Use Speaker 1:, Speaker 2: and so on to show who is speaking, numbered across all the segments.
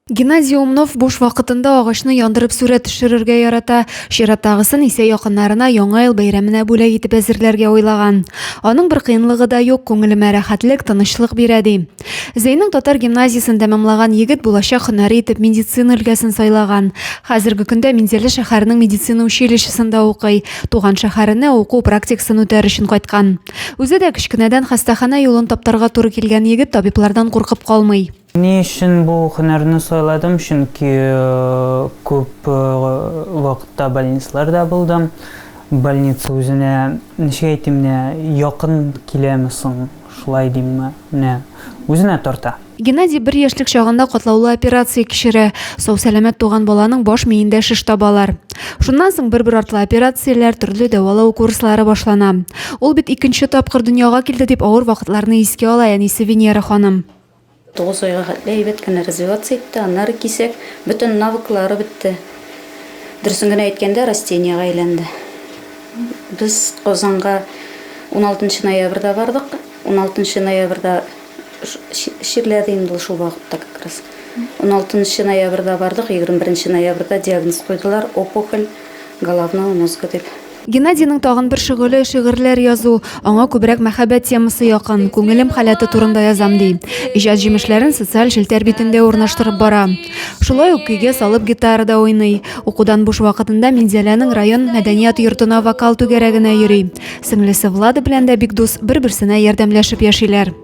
Speaker 1: Геннадий Умнов буш вакытында агачны яндырып сүрәт төшерергә ярата. Чираттагысын исә якыннарына Яңа ел бәйрәменә бүләк итеп әзерләргә уйлаган. Аның бер кыенлыгы да юк, күңелемә рәхәтлек, тынычлык бирә, ди. Зәйнең татар гимназиясен тәмамлаган егет булачак һөнәре итеп медицина өлкәсен сайлаган. Хәзерге көндә Минзәлә шәһәренең медицина училищесында укый, туган шәһәренә уку практикасын үтәр өчен кайткан. Үзе дә кечкенәдән хастаханә юлын таптарга туры килгән егет табиблардан куркып калмый. Ни өчен бу
Speaker 2: һөнәрне сайладым? Чөнки күп вакытта больницаларда булдым. Больница үзенә, ничек әйтим, менә якын киләме соң, шулай димме, менә үзенә тарта. Геннадий бер яшьлек
Speaker 1: чагында катлаулы операция кичерә. Сау-сәламәт туган баланың баш миендә шеш табалар. Шуннан соң бер-бер артлы операцияләр, төрле дәвалау курслары башлана. Ул бит икенче тапкыр дөньяга килде, дип авыр вакытларны искә ала әнисе Венера ханым. Тугыз айга
Speaker 3: хәтле әйбәт кенә развиваться итте, аннары кисәк, бөтен навыклары бетте. Дөресен генә әйткәндә, растениегә әйләнде. Без Казанга уналтынчы ноябрьдә бардык. Уналтынчы ноябрьдә чирләде инде ул шул вакытта как раз. Уналтынчы ноябрьдә бардык, егерме беренче ноябрьдә диагноз куйдылар, опухоль головного мозга дип. Геннадийның тагын
Speaker 1: бер шөгыле шигырьләр язу. Аңа күбрәк мәхәббәт темасы якын, күңелем халәте турында язам ди. Иҗат җимешләрен социаль челтәр битендә урнаштырып бара. Шулай ук көйгә салып гитарада уйный. Укудан буш вакытында Минзәләнең район мәдәният йортына вокал түгәрәгенә йөри. Сеңлесе Влада белән дә бик дус, бер-берсенә ярдәмләшеп яшиләр.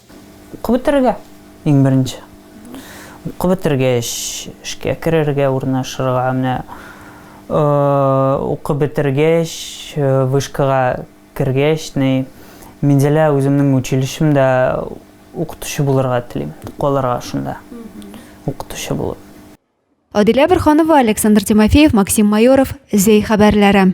Speaker 1: Укып бетерергә,
Speaker 2: иң беренче. Укып бетергәч, эшкә керергә, урнашырга. Менә укып бетергәч, вышкага кергәч, ни, Минзәлә үземнең училищемда укытучы булырга телим, калырга шунда, укытучы булып.
Speaker 1: Адилә Борһанова, Александр Тимофеев, Максим Майоров, Зәй хәбәрләре.